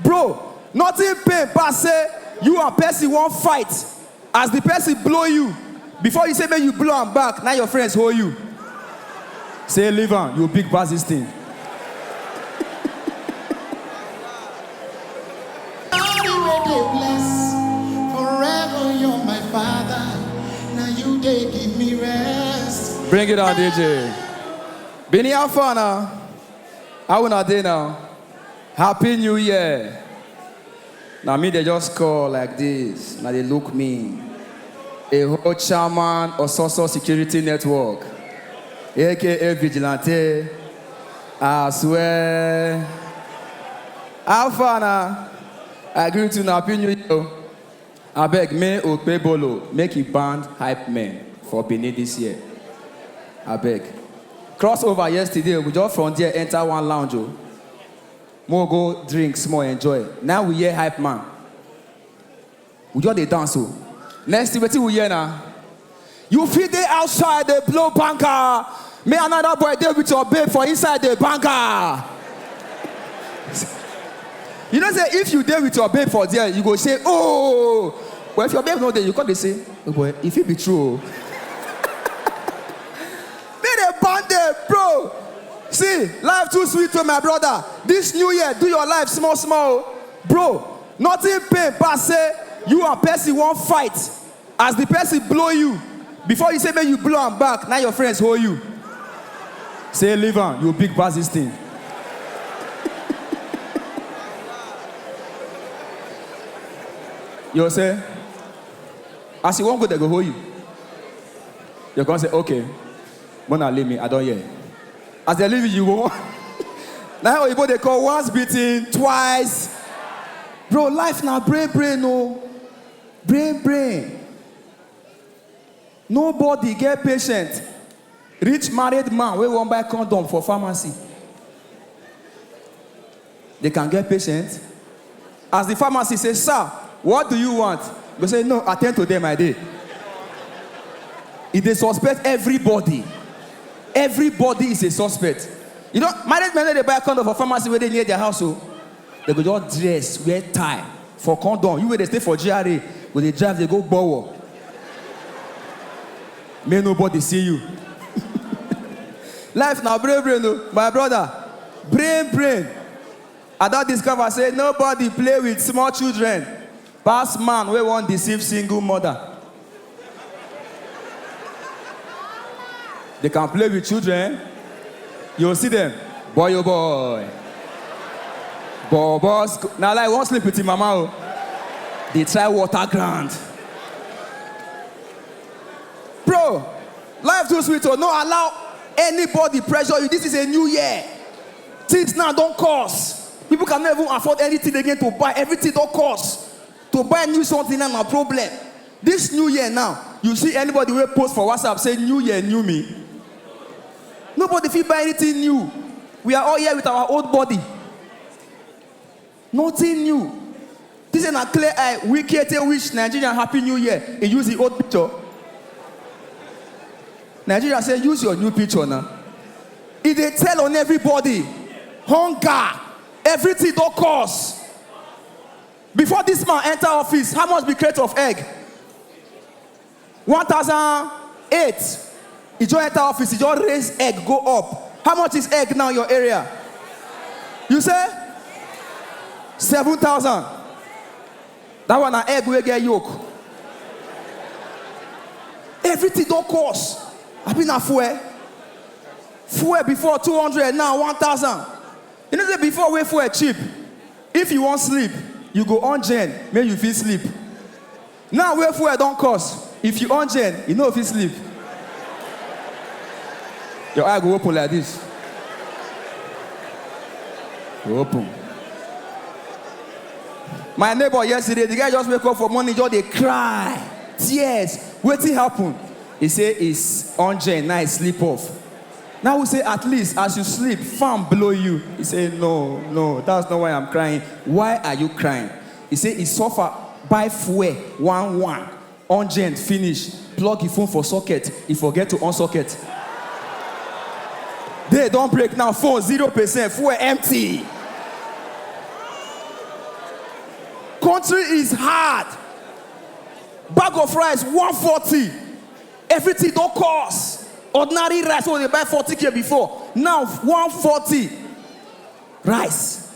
Bro, nothing pain pass say you and person wan fight, as the person blow you, before you say make you blow am back, na your friends hold you. Say leave am, you big pass this thing. Daddy wey dey bless forever, you're my father. Na you dey give me rest. Bring it on, DJ. Bini Alfana. How una dey now? Happy New Year! Na me dey just call like this, na dey look me. A whole chairman Ososo Security Network, aka Vigilante. I swear. How far na? I greet you na Happy New Year. o. Abeg me Okpebholo make e band hype men for Benin this year abeg. Cross over yesterday we just from there enter one lounge o make we go drink small enjoy na we hear hype man we just dey dance o next thing wetin we hear na. You fit dey outside dey blow banger, me another boy dey with your babe for inside dey banger. You know say if you dey with your babe for there, you go say oh, but if your babe no dey, you come dey say oh boy, e fit be true o. Me dey burn dey bro. See, life too sweet o my brother. This new year, do your life small small o. Bro, nothing pain pass say you and person wan fight, As the person blow you before you say make you blow am back na your friends hold you say leave am you big pass this thing. you say as you wan go dem go hold you you come say okay mona leave me i don hear as dem leave you you go na oyibo dey call once beaten twice bro life na brain brain o. Oh. Brain brain Nobody get patient reach married man wey wan buy condom for pharmacy. They can get patient? As the pharmacist say, sir, what do you want? He go say, no, attend to them, I dey. He dey suspect everybody. Everybody is a suspect. You know, married men no dey buy condom for pharmacy wey dey near their house o. Dem go just dress, wear tie for condom, you wey dey stay for GRA go dey drive dey go Gbowo make nobody see you. Life na brain brain o my brother, brain brain. Ada discover say nobody play with small children. Pass man wey wan deceive single mother. They can play with children, you go see them, boy oh boy, bobo sc. Na lie, you wan sleep with him mama oh. Dey try water ground. Bro, life too sweet oh, no allow anybody pressure you, this is a new year. Things now don cost. People cannot even afford anything again to buy. Everything don cost. To buy new something now na problem. This new year now, you see anybody wey post for WhatsApp say new year, new me. Nobody fit buy anything new. We are all here with our old body. Nothing new. This na clear eye Wike take wish Nigerian happy new year, he use him old picture. Nigeria say use your new picture na. He dey tell on everybody, hunger, everything don cost. Before this man enter office, how much be crate of egg? One thousand eight e just enter office e just raise egg go up how much is egg now your area you say seven thousand that one na egg wey get yolk everything don cost abi na fuel fuel before two hundred now one thousand you know say before wey fuel cheap if you wan sleep you go on gen make you fit sleep Now wey fuel don cost, if you on gen, you no fit sleep. Your eye go open like this. Go open. My neighbor yesterday, the guy just wake up for morning, just dey cry, tears. Wetin happen? He say his on gen na he sleep off. Now we say at least as you sleep, fan blow you. He say no, no, that's not why I'm crying. Why are you crying? E say e suffer buy fuel one one ungent finish, plug e phone for socket, e forget to on socket. Day don break now, phone zero percent, fuel empty. Country is hard, bag of rice one forty, everything don cost. Ordinary rice wey we dey buy forty k before, now one forty rice.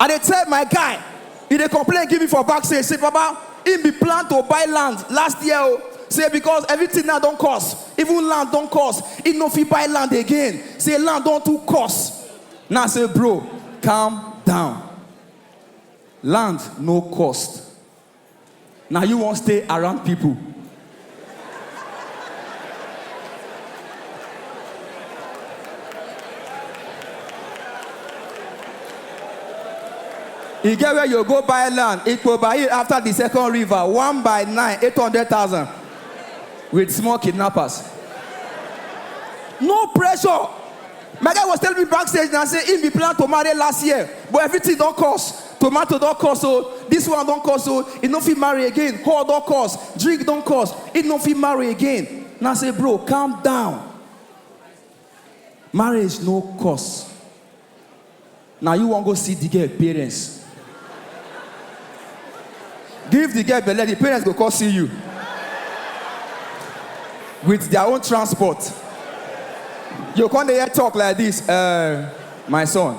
I dey tell my guy, he dey complain give me for back say say baba him be plan to buy land last year o, say because everything now don cost, even land don cost, he no fit buy land again, say land don too cost. Na say bro calm down, land no cost. Na you wan stay around people. E get where you go buy land, Ikpobayi after the second river, one by nine, eight hundred thousand, with small kidnappers. No pressure. My guy was telling me backstage now, say he be plan to marry last year, but everything don't cost. tomato don cost o this one don cost o e no fit marry again whore don cost drink don cost e no fit marry again na say bro calm down marriage no cost na you wan go see the girl parents give the girl belle the parents go come see you with their own transport you come dey hear talk like this uh, my son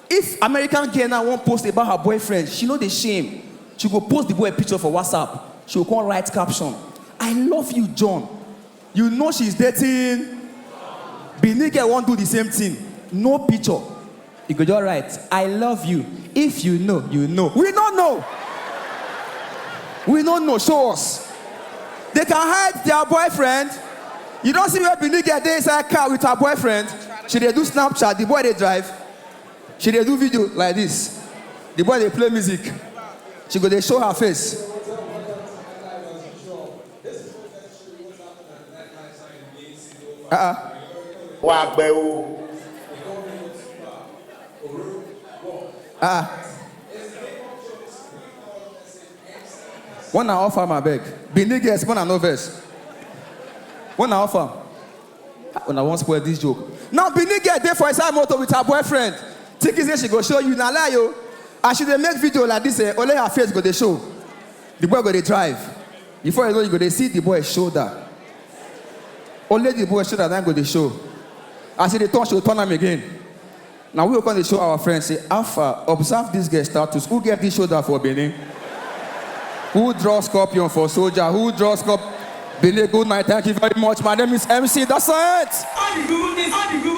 If American girl now wan post about her boyfriend, she no dey shame, she go post the boy picture for WhatsApp, she go come write caption, I love you John, you know she's dating Benin girl wan do the same thing, no picture, you go just write I love you, if you know, you know, we no know, we no know, show us, they can hide their boyfriend, you don see where Benin girl dey inside car with her boyfriend, she dey do snapchat, the boy dey drive. she dey do video like this the boy dey play music she go dey show her face uh-uh. wà á gbẹ o. ah one na offer am abeg benin girls one na no vex one na offer am. Una wan spoil this joke. Now Benin girl dey for inside motor with her boyfriend thinking say she go show you na lie o. As she dey make video like this eh, only her face go dey show. The boy go dey drive. Before you know you go dey see the boy shoulder. Only the boy shoulder na go dey show. As he dey turn, she go turn am again. Na we go come dey show our friends say how far, observe this girl status, who get this shoulder for Benin? Who draw scorpion for soldier? Who draw scorp Benin good night, thank you very much, my name is MC Dasset!